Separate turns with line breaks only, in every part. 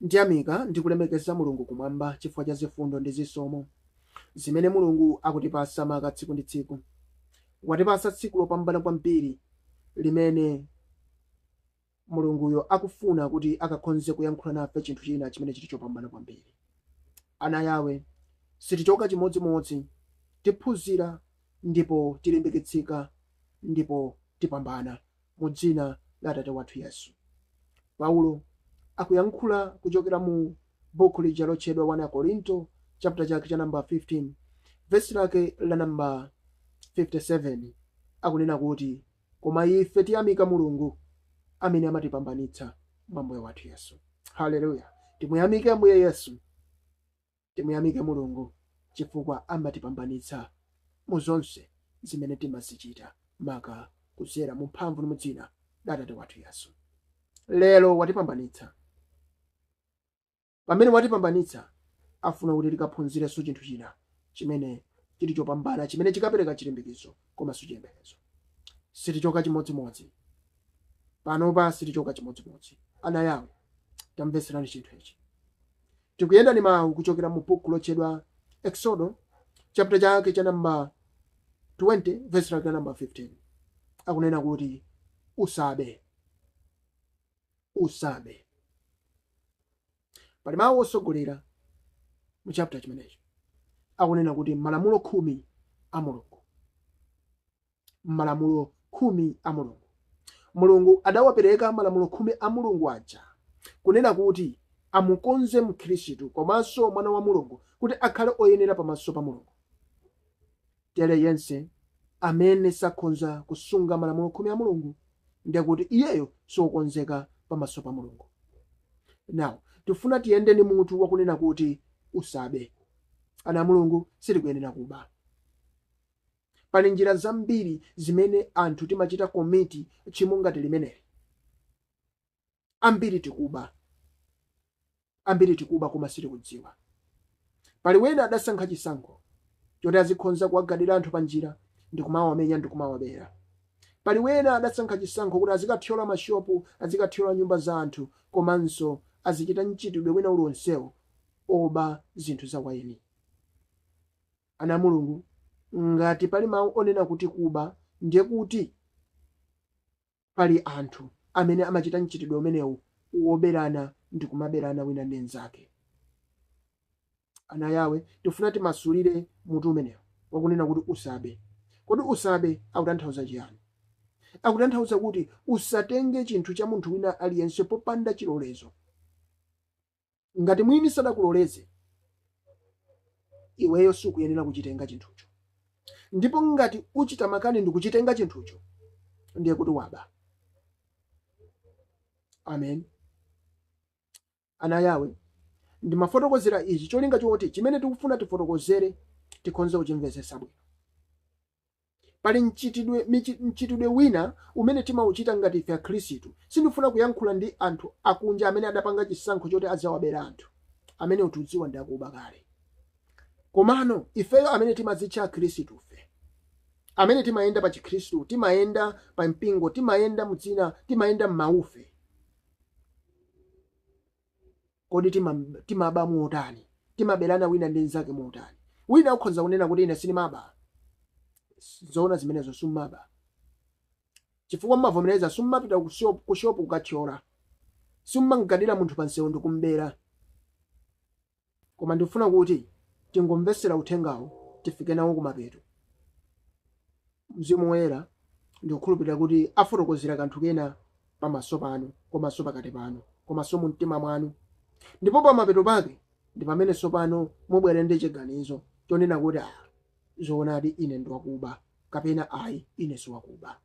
Ndiyamika ndi kulemekeza Mulungu kumwamba chifukwa cha zifundo ndi zisomo zimene Mulungu akutipatsa maka tsiku ndi tsiku. Watipatsa tsiku lopambana kwambiri limene Mulunguyo akufuna kuti akakhonze kuyankhula nafe chinthu china chimene chili chopambana kwambiri. Ana a Yahweh, sitichoka chimodzimodzi, tiphunzira ndipo tilimbikitsika ndipo tipambana. mu dzina la Atate wathu Yesu. Paulo akuyankhula kuchokera mu bukhu lija lotchedwa 1 Akorinto chapter chake cha namba 15 vesi lake la namba 57 akunena kuti koma ife tiyamika mulungu amene amatipambanitsa mwa Ambuye wathu yesu haleluya timuyamike ambuye yesu Timuyamike Mulungu chifukwa amatipambanitsa mu zonse zimene timazichita maka kudzera mu mphamvu ndi mu dzina la Atate wathu Yesu. Lero watipambanitsa. Pamene watipambanitsa, afuna kuti tikaphunzirenso chinthu china chimene chili chopambana chimene chikapereka chilimbikitso komanso chiyembekezo. Sitichoka chimodzimodzi. Panopa sitichoka chimodzimodzi. Ana a Yahweh, tamvetserani chinthu ichi. Tikuyenda ni mau kuchokera mu buku lotchedwa Eksodo, chaputa chake cha namba 20, vesi lake la namba 15. Akunena kuti, Usabe. Usabe. Pali mau otsogolera mu chaputa chimenecho, akunena kuti Malamulo Khumi a Mulungu. malamulo khumi a Mulungu. Mulungu adawapereka malamulo khumi a Mulungu aja kunena kuti amukonze Mkhristu komanso mwana wa Mulungu kuti akhale oyenera pamaso pa Mulungu. Tere yense amene sakhonza kusunga malamulo khumi a Mulungu ndiye kuti iyeyo siokonzeka pamaso pa Mulungu. Now, tifuna tiyende ndi mutu wakunena kuti usabe. Ana a Mulungu sitikuyenera kuba. Pali njira zambiri zimene anthu timachita komiti tchimo ngati limeneli. Ambiri tikuba. Ambiri tikuba koma sitikudziwa. Pali wena adasankha chisankho choti azikhonza kuwagadira anthu panjira ndikumawamenya ndikumawabera. Pali wena adasankha chisankho kuti azikathyola mashopu, azikathyola nyumba za anthu komanso azichita mchitidwe wina uliwonsewo oba zinthu za eni. Ana a Mulungu, ngati pali mawu onena kuti kuba, ndiye kuti pali anthu amene amachita mchitidwe umenewu woberana ndi kumaberana wina ndi mnzake. Ana a Yawe, tikufuna timasulire mutu umenewu wakunena kuti usabe. Kodi usabe akutanthauza chiyani? Akutanthauza kuti usatenge chinthu cha munthu wina aliyense popanda chilolezo. Ngati mwini sadakuloleze, iweyo sukuyenera kuchitenga chinthucho. Ndipo ngati uchita makani ndikuchitenga chinthucho, ndiye kuti waba. Amen. Ana a Yawe, ndimafotokozera ichi cholinga choti chimene tikufuna tifotokozere tikhonze kuchimvesetsa bwino. Pali mchitidwe, michi, mchitidwe wina umene timauchita ngati ife Akhristu. Sindifuna kuyankhula ndi anthu akunja amene adapanga chisankho choti adzawabera anthu. Amenewo tikudziwa ndi akuba kale. Komano, ifeyo amene timadzitcha Akhristufe, amene timayenda pa Chikhristu, timayenda pa mpingo, timayenda mu dzina, timayenda m'mawufe, Kodi tima, timaba motani? Timaberana wina ndi mnzake motani? Wina akhonza kunena kuti ine sindimaba. Zoona zimenezo simmaba. Chifukwa mmavomereza simmapita ku shop kukathyola. Simmamgadira munthu pa msewu ndi kumbera. Koma ndikufuna kuti tingomvetsera uthengawo tifike nawo kumapeto. Mzimu Woyera ndikukhulupirira kuti afotokozera kanthu kena pamaso panu, komanso pakati panu, komanso mu mtima mwanu. Ndipo pamapeto pake ndi pamene tsopano mubwere ndi chiganizo chonena kuti, ah, zoonadi ine ndi wakuba, kapena ayi, ine si wakuba.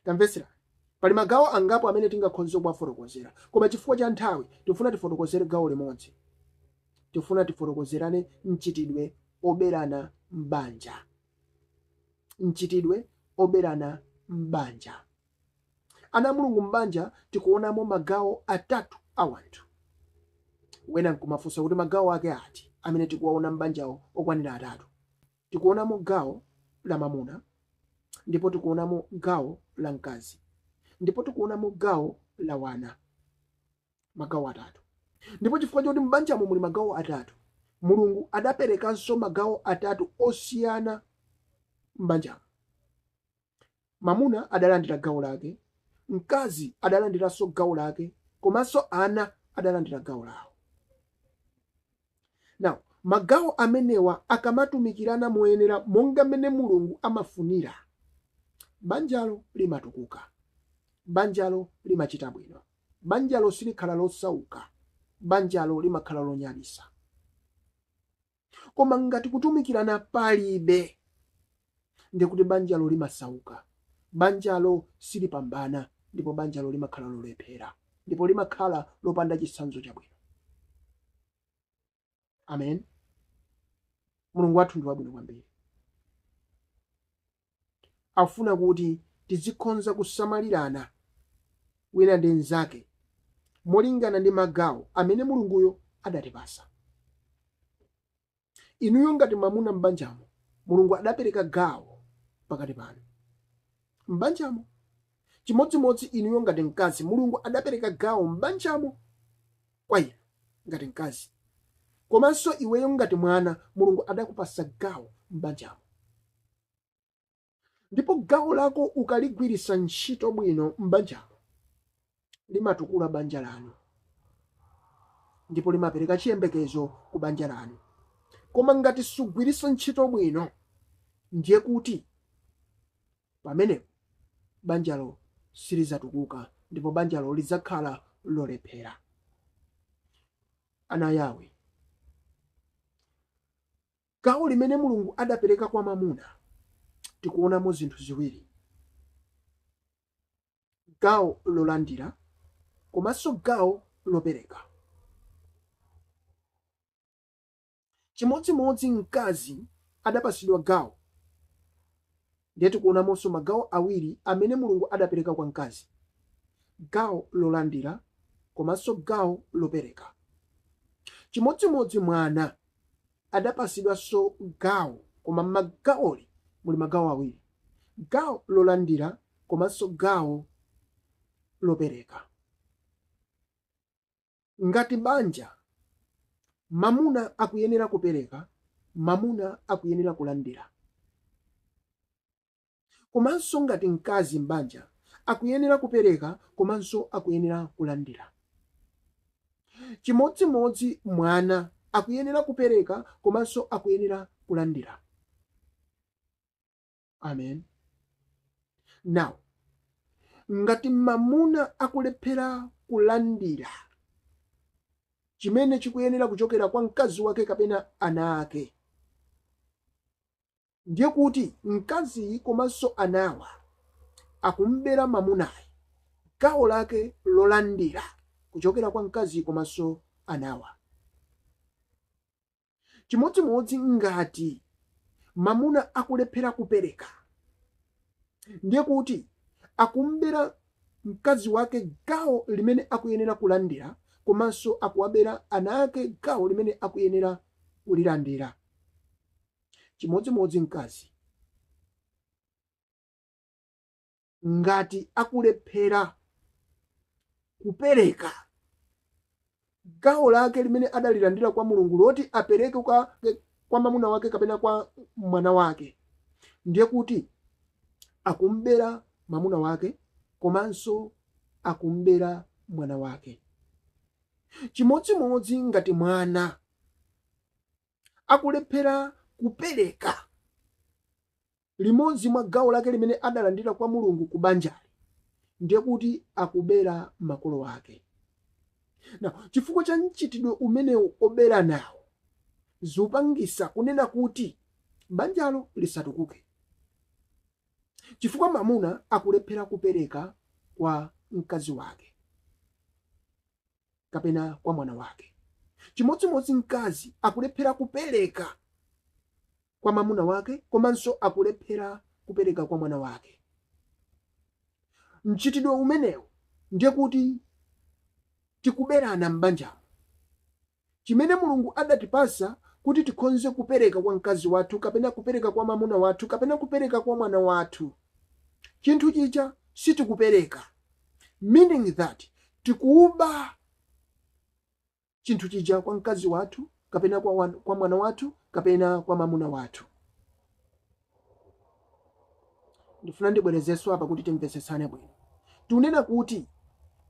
Tamvetsera. Pali magawo angapo amene tingakhonze kuwafotokozera, koma chifukwa cha nthawi tifuna tifotokozere gawo limodzi. Tifuna tifotokozerane mchitidwe oberana m'banja. mchitidwe oberana m'banja. Ana a Mulungu m'banja tikuonamo magawo atatu a wanthu. Wina nkumafunsa kuti magawo ake ati amene tikuwaona m'banjawo okwanira atatu? Tikuonamo gawo la mamuna ndipo tikuonamo gawo la mkazi ndipo tikuonamo gawo la wana. magawo atatu ndipo chifukwa chakuti m'banjamo muli magawo atatu mulungu adaperekanso magawo atatu osiyana m'banjamo mamuna adalandira gawo lake mkazi adalandiranso gawo lake komanso ana adalandira gawo lawo Now, magawo amenewa akamatumikirana moyenera monga mmene Mulungu amafunira, banjalo limatukuka, banjalo limachita bwino, banjalo silikhala losauka, banjalo limakhala lonyadisa. Koma ngati kutumikirana palibe, ndiye kuti banjalo limasauka, banjalo silipambana, ndipo banjalo limakhala lolephera, ndipo limakhala lopanda chitsanzo chabwino. Amen. Mulungu wathu ndi wabwino kwambiri. Akufuna kuti tizikhonza kusamalirana wina ndi mnzake molingana ndi magawo amene Mulunguyo adatipasa. Inuyo ngati mamuna m'banjamo, Mulungu adapereka gawo pakati panu. m'banjamo. Chimodzimodzi inuyo ngati mkazi, Mulungu adapereka gawo m'banjamo kwa inu ngati mkazi. Komanso iweyo ngati mwana, Mulungu adakupasa gawo m'banjamo. ndipo gawo lako ukaligwiritsa ntchito bwino m'banjalo limatukula banja lanu ndipo limapereka chiyembekezo ku banja lanu koma ngati sugwiritsa ntchito bwino ndiye kuti pamenepo banjalo silizatukuka ndipo banjalo lidzakhala lolephera ana yawe gawo limene Mulungu adapereka kwa mamuna, tikuonamo zinthu ziwiri, gawo lolandira komanso gawo lopereka. Chimodzimodzi mkazi adapatsidwa gawo Ndiye tikuonamonso magawo awiri amene Mulungu adapereka kwa mkazi, gawo lolandira komanso gawo lopereka. Chimodzimodzi mwana adapasidwanso gawo koma m'gawoli muli magawo awiri, gawo lolandira komanso gawo lopereka. Ngati banja, mamuna akuyenera kupereka, mamuna akuyenera kulandira. Komanso ngati mkazi m'banja, akuyenera kupereka komanso akuyenera kulandira. Chimodzimodzi mwana, akuyenera kupereka komanso akuyenera kulandira. amen now ngati mamuna akulephera kulandira chimene chikuyenera kuchokera kwa mkazi wake kapena ana ake ndiye kuti mkaziyi komanso anawa akumbera mamunayi gawo lake lolandira kuchokera kwa mkazi komanso anawa chimodzimodzi ngati mamuna akulephera kupereka ndiye kuti akumbera mkazi wake gawo limene akuyenera kulandira komanso akuwabera ana ake gawo limene akuyenera kulilandira chimodzimodzi mkazi ngati akulephera kupereka gawo lake limene adalilandira kwa mulungu loti apereke kwa, kwa mamuna wake kapena kwa mwana wake ndiye kuti akumbera mamuna wake komanso akumbera mwana wake chimodzimodzi ngati mwana akulephera kupereka limodzi mwa gawo lake limene adalandira kwa Mulungu ku banjali, ndiye kuti akubera makolo ake. Now, chifukwa cha mchitidwe umenewu oberanawu, zupangisa kunena kuti banjalo lisatukuke chifukwa mamuna akulephera kupereka kwa mkazi wake. kapena kwa mwana wake. Chimodzimodzi mkazi akulephera kupereka kwa mamuna wake komanso akulephera kupereka kwa mwana wake. Mchitidwe umenewu ndiye kuti tikuberana m'banjamo. chimene Mulungu adatipatsa kuti tikhonze kupereka kwa mkazi wathu kapena kupereka kwa mamuna wathu kapena kupereka kwa mwana wathu chinthu chija sitikupereka meaning that tikuba chinthu chija kwa mkazi wathu kapena kwa, wan, kwa mwana wathu kapena kwa mamuna wathu ndifuna ndibwerezenso apa kuti timvetsetsane bwino tunena kuti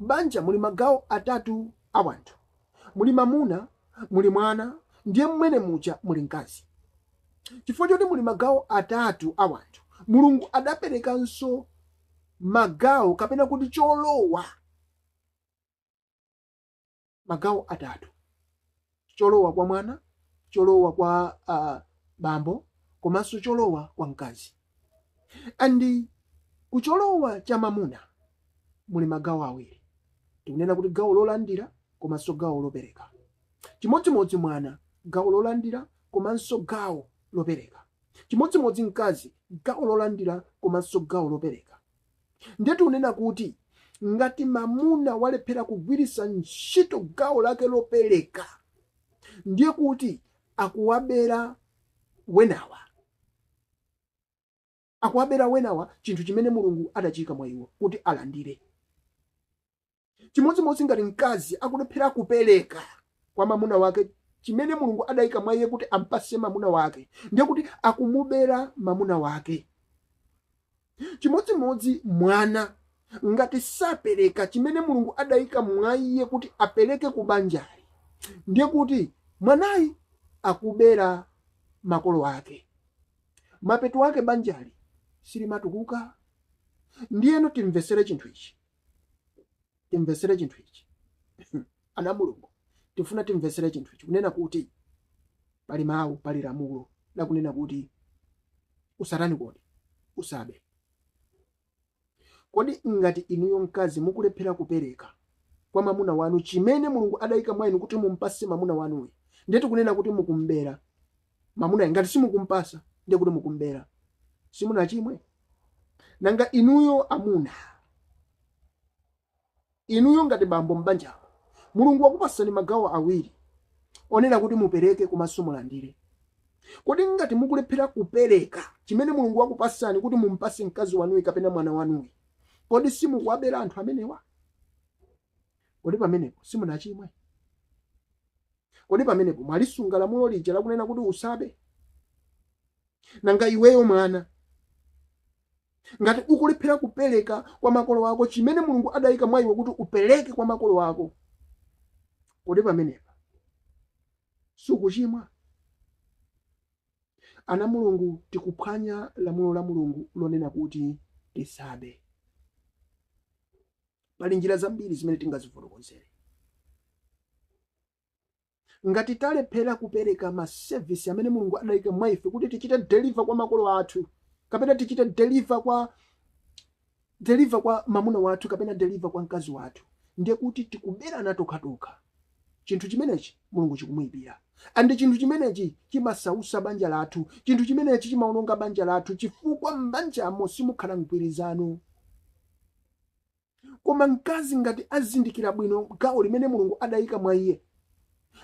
banja muli magawo atatu a wanthu muli mamuna muli mwana ndiye mmene muja muli mkazi chifukwa choti muli magawo atatu a wanthu mulungu adaperekanso magawo kapena kuti cholowa magawo atatu cholowa kwa mwana cholowa kwa uh, bambo komanso cholowa kwa mkazi and kucholowa cha mamuna muli magawo awiri tikunena kuti gawo lolandira komanso gawo lopereka chimodzimodzi mwana gawo lolandira komanso gawo lopereka chimodzimodzi mkazi gawo lolandira komanso gawo lopereka Ndiye tikunena kuti ngati mamuna walephera kugwiritsa ntchito gawo lake lopereka, ndiye kuti akuwabera wenawa akuwabera wenawa chinthu chimene Mulungu adachiika mwa iwo kuti alandire. chimodzimodzi ngati mkazi akulephera kupereka kwa mamuna wake chimene mulungu adayika mwa iye kuti ampase mamuna wake ndiye kuti akumubera mamuna wake chimodzimodzi mwana ngati sapereka chimene mulungu adayika mwa iye kuti apereke ku banjali ndiye kuti mwanayi akubera makolo ake mapeto ake banjali silimatukuka ndiyeno timvesere chinthu ichi timvetsere chinthu ichi ana mulungu tifuna timvetsere chinthu ichi kunena kuti pali mawu pali lamulo lakunena kuti usatani kodi usabe kodi ngati inuyo mkazi mukulephera kupereka kwa mamuna wanu chimene mulungu adayika mwa inu kuti mumpase mamuna wanuyi ndiye tikunena kuti mukumbera mamunayo ngati simukumpasa ndiye kuti mukumbera simunachimwe nanga inuyo amuna inuyo ngati bambo m'banjalo mulungu wakupasani magawo awiri onena kuti mupereke komanso mulandire kodi ngati mukulephera kupereka chimene mulungu wakupasani kuti mumpase mkazi wanuyi kapena mwana wanuyi kodi simukuwabera anthu amenewa kodi pamenepo simunachimwe Kodi pamenepo mwalisunga lamulo lija lakunena kuti usabe? Nanga iweyo mwana, ngati ukulephera kupereka kwa makolo ako chimene Mulungu adayika mwa iwe kuti upereke kwa makolo ako, kodi pamenepa sukuchimwa? Ana Mulungu tikuphwanya lamulo la Mulungu lonena kuti tisabe. pali njira zambiri zimene tingazifotokozere ngati talephera kupereka masevisi amene mulungu adayika mwa ife kuti tichite deliver kwa makolo athu kapena tichite deliver kwa mamuna wathu kapena deliver kwa mkazi wathu ndiye kuti tikuberana tokhatokha chinthu chimenechi mulungu chikumuyipira and chinthu chimenechi chimasausa banja lathu chinthu chimenechi chimaononga banja lathu chifukwa m'banjamo simukhala mgwirizano koma mkazi ngati azindikira bwino gawo limene mulungu adayika mwa iye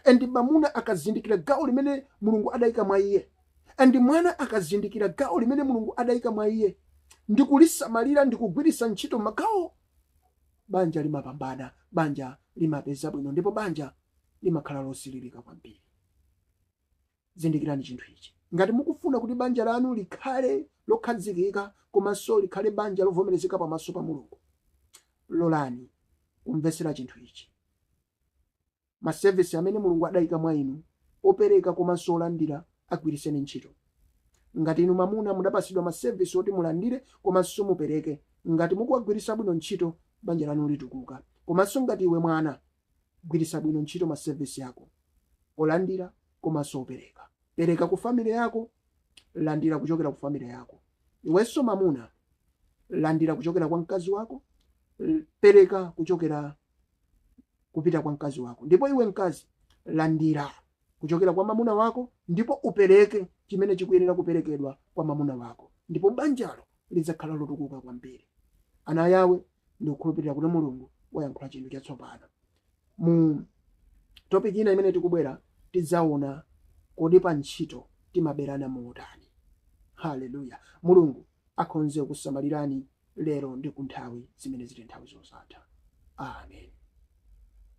and mamuna akazindikira gawo limene mulungu adayika mwa iye and mwana akazindikira gawo limene mulungu adayika mwa iye ndi kulisamalira ndi kugwiritsa ntchito magawo banja limapambana banja limapeza bwino ndipo banja limakhala losilirika kwambiri zindikirani chinthu ichi ngati mukufuna kuti banja lanu likhale lokhazikika komanso likhale banja lovomerezeka pamaso pa mulungu lolani kumvetsera chinthu ichi masevisi amene mulungu adayika mwa inu opereka komanso olandira agwiritseni ntchito ngati inu mamuna mudapatsidwa masevisi oti mulandire komanso mupereke ngati mukuwagwiritsa bwino ntchito banja lanu litukuka komanso ngati iwe mwana Gwiritsa bwino ntchito ma service ako olandira komanso opereka. Pereka ku family yako, landira kuchokera ku family yako. Iwenso mamuna, landira kuchokera kwa mkazi wako, l- pereka kuchokera kupita kwa mkazi wako. Ndipo iwe mkazi, landira kuchokera kwa mamuna wako ndipo upereke chimene chikuyenera kuperekedwa kwa mamuna wako ndipo banjalo lidzakhala lotukuka kwambiri ana a Yawe ndikukhulupirira kuti mulungu wayankhula chinthu chatsopano mu topic ina imene tikubwera tidzaona kodi pa ntchito timaberana motani haleluya mulungu akhonze kusamalirani lero ndi kunthawi zimene ziti nthawi zosatha amen